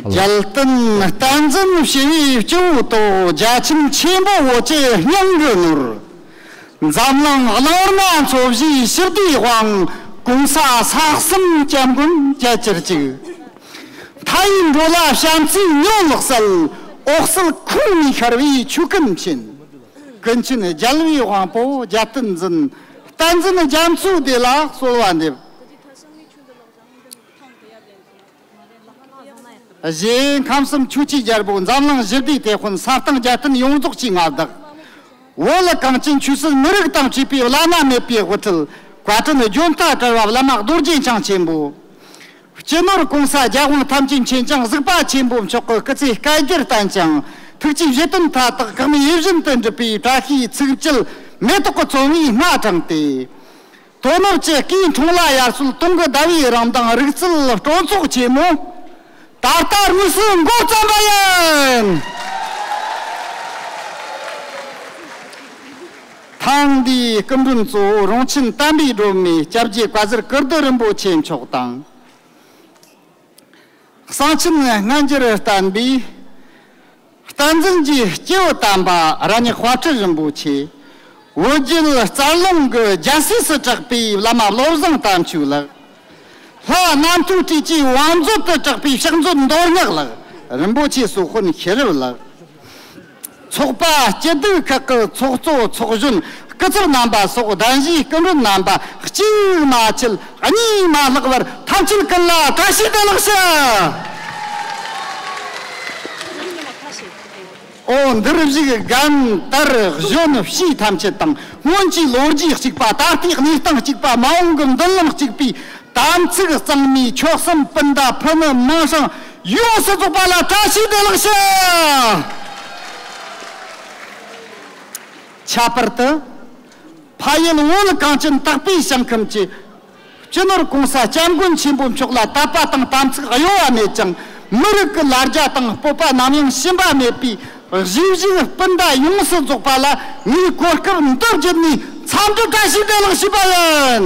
རྒྱལ་བསྟན་བསྟན་འཛིན་ཞི་བའི་སྐྱེ་བོ་དང་རྒྱ་ཁྱིམ་ཆེན་པོ་བོ་ཅེ་སྙིང་རུས་ནོར། འཛམ་གླིང་བླ་མ་མཚོ་བཞིའི་ཞི་བདེའི་དབང། གོང་ས་སྲ་གསུམ་སྐྱབས་མགོན་རྒྱལ་གྱུར་ཅིག། མཐའ་ཡི་འགྲོ་ལ་བྱམས་བརྩེའི་སྨྱོ་ལགས་གསལ། འོག་གསལ་ཁུང་མིག་ཤར་བའི་ཆུ་སྐམ་བཞིན། ཀུན་མཁྱེན་རྒྱལ་བའི་དབང་པོ་རྒྱལ་བསྟན་འཛིན། བསྟན་འཛིན་རྒྱ་མཚོའི་བདེ་ལགས་གསོལ་བ་འདེབས། གཞན་ཁམས་གསུམ་ཆོས་སྤྱི་རྒྱལ་པོ་འཛམ་གླིང་བཞི་བདེའི་དེད་དཔོན་ས་སྟེང་རྒྱལ་བསྟན་ཡོངས་རྫོགས་ཀྱི་མངའ་བདག། བོད་ལ་གངས་ཅན་ཆོས་སྲིད་མི་རིགས་དང་བཅས་པའི་བླ་ན་མེད་པའི་དབུ་ཁྲིད། བཀའ་དྲིན་རྒྱུན་མཐའ་བྲལ་བ་བླ་མ་རྡོ་རྗེ་འཆང་ཆེན་པོ། སྤྱི་ནོར་གོང་ས་རྒྱལ་དབང་ཐམས་ཅད་མཁྱེན་ཅིང་གཟིགས་པ་ཆེན་པོ་མཆོག་གི་སྐུ་ཚེ་བསྐལ་བརྒྱར་བརྟན་ཅིང་ཐུགས་ཀྱི་བཞེད་དོན་མཐའ་དག་གང་མོས་ཡིད་བཞིན་དུ་འགྲུབ་པའི་བཀྲ་ཤིས་ཚིག་མཇལ་མེ་ཏོག་གི་ཚོམ་བུའི་སྣ་དྲངས་ཏེ། དོ་ནུབ་ཀྱི་སྐྱིལ་ཀྲུང་ལ་ཡར་སུལ་སྟོང་གི་ཟླ་བའི་རང་མདངས་རིག་རྩལ་སྤྲོ་ཚོགས་ཆེན་མོ། ད་ལྟ་དམིགས་བསལ་མགོ་བརྩམས་པ་ཡིན། ཐེངས་འདིའི་སྐུ་མགྲོན་གཙོ་བོ་རོང་ཆེན་གཏམ་དཔེའི་སྒྲོན་མེ་སྐྱབས་རྗེ་བཀའ་ཟུར་ཀིར་ཏི་རིན་པོ་ཆེ་མཆོག་དང། གསང་ཆེན་སྔ་འགྱུར་གཏམ་དཔེའི་རྟ་འཛིན་གྱི་སྐྱེས་བུ་དམ་པ་ར་ཉི་དཔའ་ཁྲི་རིན་པོ་ཆེ། འོད་རྒྱལ་རྩ་རླུང་གི་རྒྱལ་སྲས་སུ་གྲགས་པའི་བླ་མ་བློ་བཟང་དམ་ཆོས་ལགས། ལྷ་རྣམ་ཐོས་བཀྲས་ཀྱི་བང་མཛོད་དུ་གྲགས་པའི་ཕྱག་མཛོད་མདོ་སྔགས་ལགས་རིན་པོ་ཆེ་སོགས་དཔོན་ཤེས་རབ་ལགས། ཚོགས་པ་སྐྱིད་སྡུག་ཁག་གི་ཚོགས་གཙོ་ཚོགས་གཞོན་སྐུ་ཚབ་རྣམ་པ་སོགས་གདན་ཞུའི་སྐུ་མགྲོན་རྣམ་པ་གཅིག་མ་ཆད་གཉིས་མ་ལྷག་བར་ཐམས་ཅད་ཀུན་ལ་བཀྲ་ཤིས་བདེ་ལེགས་ཞུ། ཨོ་འདིར་གཞུག་སྒམ་དར་གཞོན་བྱིས་ཐམས་ཅད་དང་སྔོན་གྱི་ལོ་རྒྱུས་གཅིག་པ་ད་ལྟའི་གནས་སྟངས་གཅིག་པ་མ་འོངས་ཀྱི་མདུན་ལམ་གཅིག་པའི་དམ་ཚིག་གཙང་མའི་མཆོག་གསུམ་སྤུན་ཟླ་ཕུ་ནུ་དམངས་ཞིང་ཡོངས་སུ་རྫོགས་པ་ལ་བཀྲ་ཤིས་བདེ་བླག་ཞུ། ཁྱད་པར་དུ། ཕ་ཡུལ་དབུལ་གངས་ཅན་དག་པའི་ཞིང་ཁམས་ཀྱི། སྤྱི་ནོར ྋགོང་ས ྋསྐྱབས་མགོན་ཆེན་པོ་མཆོག་ལ་དད་པ་དང་དམ་ཚིག་གཡོ་བ་མེད་ཅིང་མི་རིགས་ཀྱི་ལ་རྒྱ་དང་སྤོབས་པ་ནམ་ཡང་ཞུམ་པ་མེད་པའི་གཞིས་བཞུགས་སྤུན་ཟླ་ཡོངས་སུ་རྫོགས་པ་ལ་ངས་གོ་སྐབས་འདི་བརྒྱུད་ནས་འཚམས་འདྲི་བཀྲ་ཤིས་བདེ་བླག་ཞུ་བ་ཡིན།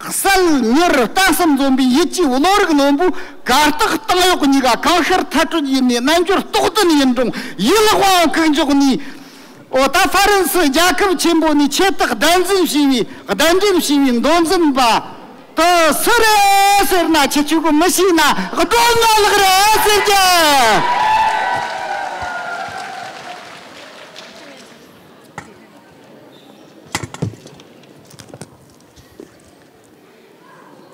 གསལ། མྱུར་རུ་ལྟ་སེམས་འཛོམས་པའི་ཡིད་ཀྱིས་བློ་རིག་ལོན་པོས་གར་སྟེགས་སྟེང་གཡོག་གཉིས་ཀ་གང་ཤར་མཐའ་གྲོལ་ཡིན་ནའི་རྣལ་འབྱོར་རྟོགས་ལྡན་ཡིན་རུང་ཡིད་ལ་དབང་བ་གུག་འཇོག་ནས། ཨོ་ད་ཧྥ་རན་སི་རྒྱལ་ཁབ་ཆེན་པོ་ནས་ཁྱེད་དག་བདེན་འཛིན་ཞེས་པའི་བདེན་འགྲེམས་ཞེས་པའི་མདོ་འཛིན་པ་དུ་སུ་རེད་ཟེར་ན་ཁྱི་ཁྱུ་གུ་མི་ཤེས་ན་སྒྲོ་ཉོག་ལགས་རེད་ཟེར་གྱི།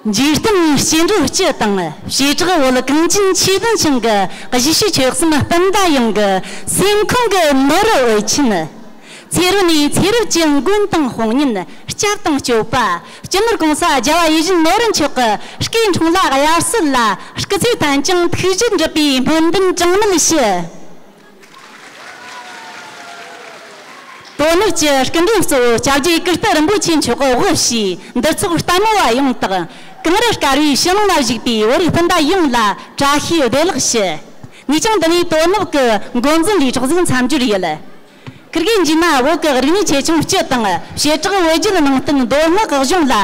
འཇིག་རྟེན་གྱི་སྐྱེ་འགྲོ་སྤྱི་དང་བྱེ་བྲག་བོད་གངས་ཅན་ཆོས་ལྡན་ཞིང་གི་གཞིས་བྱེས་ཆོལ་གསུམ་སྤུན་ཟླ་ཡོངས་ཀྱི་སེམས་ཁོང་གི་མི་རུ་འོས་ཆེན། ཚེ་རུ་ནས་ཚེ་རབས་ཀྱི་མགོན་དང་དཔུང་གཉེན་སྐྱབས་དང་སྤྱོད་པ་སྤྱི་ནོར་གོང་ས་རྒྱ་བ་ཡིད་བཞིན་ནོར་བུ་མཆོག་གི་སྐུའི་འཁྲུངས་ལ་དབྱར་གསོལ་ལ་སྐུ་ཚེ་ཐང་ཅིང་ཐུགས་རྗེ་འགྲུབ་པའི་སྨོན་འདུན་གྲངས་མེད་ཞུ། དོ་ནུབ་ཀྱི་སྐུ་མགྲོན་གཙོ་བོ་བཅྭ་བརྒྱུད་ཀིརྟི་རིན་པོ་ཆེ་མཆོག་དབུ་བཞུགས་འདུ་ཚོགས་ལྟ་མོ་བ་ཡོངས་དང་གངས་རི་དཀར་བོའི་ཕྱི་ནང་ལ་བཞུགས་པའི་བོད་རིགས་སྤུན་ཟླ་ཡོངས་ལ་བཀྲ་ཤིས་བདེ་ལགས་ཞུ། ངས་ཀྱང་འདི་ནས་དོ་ནུབ་ཀྱི་མགོ་འཛིན་པའི་གྲགས་འཛིན་མཚམས་སྦྱོར་ཡོད། ཀིར་གེ་འཇིགས་མ་བོད་ཀྱི་རིག་གནས་ཆེ་ཆུང་སྤྱི་དང་བྱེ་བྲག་བོད་བརྒྱུད་ནང་བསྟན་མདོ་སྔགས་གཞུང་ལ།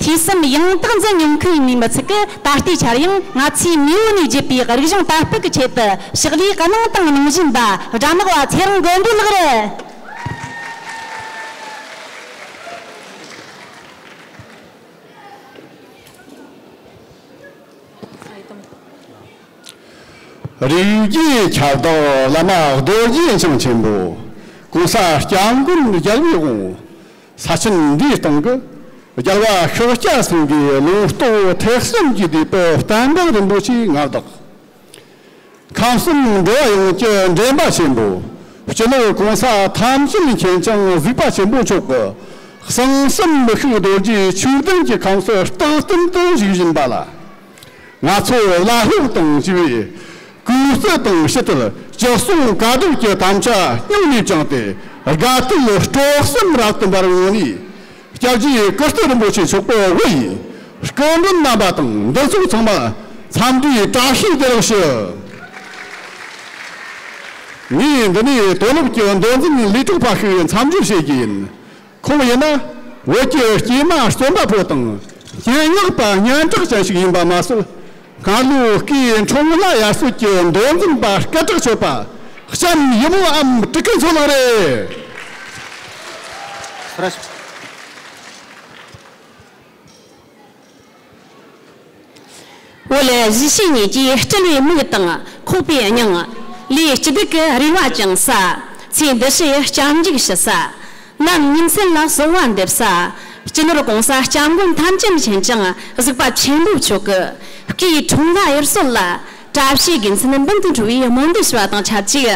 ཐོས་བསམ་ཡང་དག་འཛིན་མྱོང་མཁན་ཡིན་མི་ཚུགས་ཀི་ད་ལྟའི་ཆར་ཡང་ང་ཚོས་མེས་པོ་ནས་བརྒྱུད་པའི་རིག་གཞུང་དར་སྤེལ་གི་ཆེད་དུ་ཕྱག་ལས་ག་གནང་དང་གནང་བཞིན་པ་དགྲ་ནག་བ་ཚེ་རིང་མགོན་པོའི་ལག་རུ། རིགས་བརྒྱུད་ཁྱབ་བདག་བླ་མ་རྡོ་རྗེ་འཆང་ཆེན་པོ ྋགོང་ས ྋསྐྱབས་མགོན་རྒྱལ་བའི་དབང་ས་ཆེན་འདིའི་སྟེང་གི་རྒྱལ་བ་ཤཱཀྱ་སེང་གེའི་ལུང་རྟོགས་བོ་ཐེག་གསུམ་གྱི་བདུད་དཔལ་གཏན་འབེབས་རིན་པོ་ཆེའི་ངག་བདག། ཁམས་གསུམ་འགྲོ་བ་ཡོངས་ཀྱི་འདྲེན་པ་ཆེན་པོ། སྤྱི་ལོའི་གང་ཟག་ཐམས་ཅད་མཁྱེན་ཅིང་གཟིགས་པ་ཆེན་པོ་མཆོག་གི་གསང་གསུམ་མི་ཤུགས་རྡོ་རྗེའི་ཆོས་ལྡན་གྱི་ཁམས་སུ་རྟག་བརྟན་དུ་བཞུགས་བཞིན་པ་ལ། ང་ཚོས་བླ་སློབ་དང་བཅས་པའི་སྐུའི་གསོལ་དང་ཕྱི་དོར་སྤྱི་གསུང་བཀའ་བསྡུར་གྱི་དམ་བཅའ་སྙིང་ནས་བཅངས་ཏེ་དགའ་བསུའི་སྤྲོ་གསེང་རབ་ཏུ་འབར་འོང་ནས། སྐྱབས་རྗེ་ཀིརྟི་རིན་པོ་ཆེ་མཆོག་པོ་དབུ་ཡི་སྐུ་མགྲོན་རྣམ་པ་དང་འདུ་ཚོགས་ཚང་མ་འཚམས་འདྲིའི་བཀྲ་ཤིས་བདེ་ལེགས་ཞུ། ངས་འདི་ནས་དོ་ནུབ་ཀྱི་མདོ་འཛིན་ལས་གྲུབ་པ་ཞིག་འཚམས་འདྲི་བྱེད་རྒྱུ་ཡིན། ཁོང་ཡིན་ན་བོད་ཀྱི་སྐྱེས་མ་རྩོམ་པ་པོ་དང་རྐྱེན་ངག་པ་སྙན་གྲགས་ཅན་ཞིག་ཡིན་པ་མ་ཟད་སྔ་ལོའི་སྐུའི་འཕྲོ་མོ་ལ་ཡར་སྲོལ་གྱི་མདོ་འཛིན་པ་སྐད་གྲགས་ཆོད་པ་ལྕམ་ཡི་མོ་ཨམ་ཀྲི་ཀི་མཚོ་ལགས་རེད། འོ་ལེ་གཞི་ཤེས་གཉིས་ཀྱིས་སྤྲུལ་བའི་མིག་དང་ཁོག་པའི་སྙིང། ལས་སྤྱི་བདུད་ཀྱི་རིག་བ་བཅིང་ས། ཚེ་འདི་ཕྱི་ཡི་སྐྱབས་འཇུག་ཞུ་ས། རྣམ་སྨིན་སེམས་ལ་གསོལ་བ་འདེབས་ས། སྤྱི་ནོར་གོང་ས་སྐྱབས་མགོན་ཐམས་ཅད་མཁྱེན་ཅིང་གཟིགས་པ་ཆེན་པོ་མཆོག། སྐུའི་འཁྲུངས་སྐར་ཡུལ་སྲོལ་ལ། བཀྲ་ཤིས་དགེ་མཚན་སྦུན་དུ་འཁྲུངས་པའི་སྨོན་འདུན་ཞུ་བ་དང་ཆབས་ཅིག།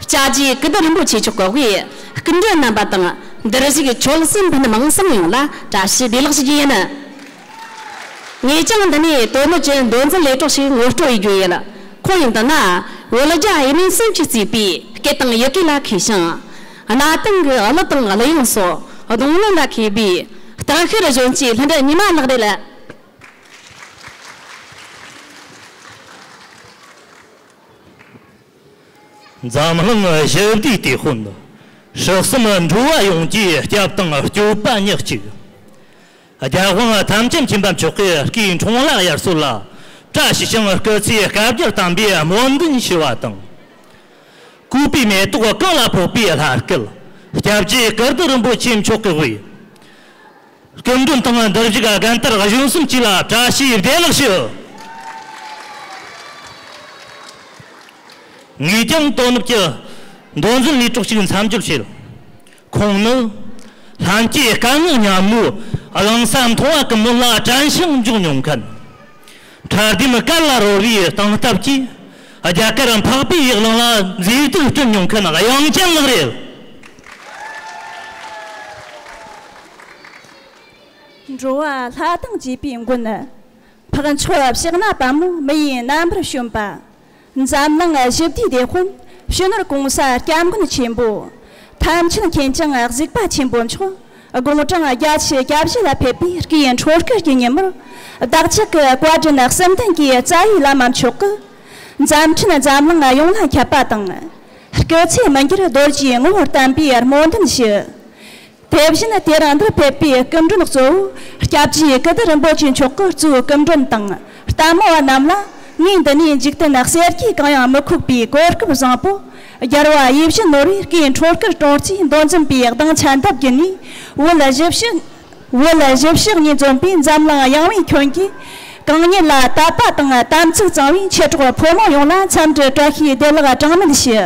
བཅའ་རྒྱའི་སྐུ་བསྡུ་རིན་པོ་ཆེ་མཆོག་གི་དབུས་སྐུ་མགྲོན་རྣམ་པ་དང་འདིར་གཞུགས་ཆོལ་གསུམ་ཕུ་ནུ་མིང་སྲིང་ཡོངས་ལ་བཀྲ་ཤིས་བདེ་ལེགས་ཞུ་རྒྱུ་ཡིན། ངས་ཀྱང་འདི་ནས་དོན་གནོད་ཀྱི་འདོན་འཛིན་ལས་གྲོགས་ཤིག་ངོ་སྤྲོད་ཡོད་རྒྱུ་ཡིན། ཁོང་ཡིན་དོན་ན་བོད་རྒྱ་དབྱི་མིང་གསུམ་གྱི་རྩིས་པའི་སྐད་དང་ཡི་གེ་ལ་མཁས་ཤིང། གནའ་དེང་གི་གླུ་དང་གླུ་དབྱངས་སོགས་གདོང་ལེན་ལ་མཁས་པའི་སྟག་ཤར་གཞོན་སྐྱེས་ལྷུན་གྲུབ་ཉི་མ་ལགས་རེད། འཛམ་གླིང་ཞི་བདེའི་དུས་དཔོན་ཕྱོགས་གསུམ་འགྲོ་བ་ཡོངས་ཀྱི་སྐྱབས་དང་སྐྱོབ་པ་ཉག་གཅིག། རྒྱལ་དབང་ཐམས་ཅད་མཁྱེན་པ་མཆོག་གི་སྐུའི་འཕྲིན་ལས་ཡར་སྲོལ་ལ་བཀྲ་ཤིས་ཤིང་སྐུ་ཚེའི་བསྐལ་བརྒྱར་དམ་པའི་སྨོན་འདུན་ཞུ་བ་དང། སྐུ་པའི་མེ་ཏོག་རྐང་ལ་ཕོག་པའི་ལྷ་སྐལ། སྐྱབས་རྗེ་ཀིརྟི་རིན་པོ་ཆེ་མཆོག་གི་དབུས། སྐྱོན་བདུན་དང་བདག་བཞི་ག་རྒན་དར་གཞོན་གསུམ་གཅིག་ལ་བཀྲ་ཤིས་བདེ་ལེགས་ཞུ། ངེད་ཀྱང་དོ་ནུབ་ཀྱི་མདོ་འཛིན་ལས་གྲོགས་ཤིག་མཚམས་སྦྱོར་བྱེད། ཁོང་ནི་ལྷན་སྐྱེས་དཀའ་ངལ་མཉམ་མོའི་གླིང་ས་མཐོང་བ་གི་མི་ལ་དྲན་ཞིང་འཇོག་མྱོང་མཁན། ཁྲ་ལྡེམ་དཀར་ལ་རོལ་བའི་སྟངས་སྟབས་ཀྱིས་རྒྱ་གར་འཕགས་པའི་ཡིག་ལང་ལ་མཛེས་སྡུག་བསྐྲུན་མྱོང་མཁན་གཡང་ཅན་ལགས་རེད། འགྲོ་བ་ལྷ་དང་བཅས་པའི་མགོན། འཕགས་མཆོག་གཤེགས་ན་བམ་མི་ཡི་རྣམ་པར་བྱོན་པ། འཛམ་གླིང་བཞི་བདེའི་བདེ་དཔོན། ཕྱི་ནོར་གོང་ས་སྐྱབས་མགོན་ཆེན་པོ། ཐམས་ཅད་མཁྱེན་ཅིང་གཟིགས་པ་ཆེན་པོ་མཆོག། དགུང་གྲངས་བརྒྱ་ཆའི་སྐྱབས་བཞི་ལ་ཕེབས་པའི་དཀྱིལ་འཕྲོ་སྐོར་གྱི་ཉིན་མོར། བདག་གཅིག་གི་བཀའ་དྲིན་གསུམ་ལྡན་གྱི་རྩ་བའི་བླ་མ་མཆོག་གིས། འཛམ་ཕྲན་འཛམ་གླིང་ཡོངས་ལ་ཁྱབ་པ་དང། སྐུ་ཚེ་མི་འགྱུར་རྡོ་རྗེའི་ངོ་བོར་བསྟན་པའི་སྨོན་འདུན་ཞུ། དེ་བཞིན་དེ་རིང་འདིར་ཕེབས་པའི་སྐུ་མགྲོན་གཙོ་བོ་སྐྱབས་རྗེ་སྐུ་སྡེ་རིན་པོ་ཆེ་མཆོག་གི་གཙོས་སྐུ་མགྲོན་དང་ལྟད་མོ་བ་རྣམས་ལ་ངས་འདི་ནས་འཇིག་རྟེན་གསེར་གྱི་གང་ཡང་མི་ཁུག་པའི་གོ་སྐབས་བཟང་པོ་སྦྱར་བ་དབྱི་བཞི་ནོར་བུའི་སྐེ་འཕྲོར་སྐུ་གྲོངས་རྩིས་མདོ་འཛིན་པའི་གདངས་ཆ་འདབ་བརྒྱུད་ནས་འོད་ལ་བཞི་བཤགས། འོད་ལ་བཞི་བཤགས་ཉིད་འཛོམས་པའི་འཛམ་གླིང་གཡང་བའི་ཁྱོན་གྱི་གང་ཉིད་ལ་དད་པ་དང་དམ་ཚིག་གཙང་བའི་མཆེད་གྲོགས་ཕོ་མོ་ཡོངས་ལ་འཚམས་འདྲི་བཀྲ་ཤིས་བདེ་ལེགས་གྲངས་མེད་ཞུ།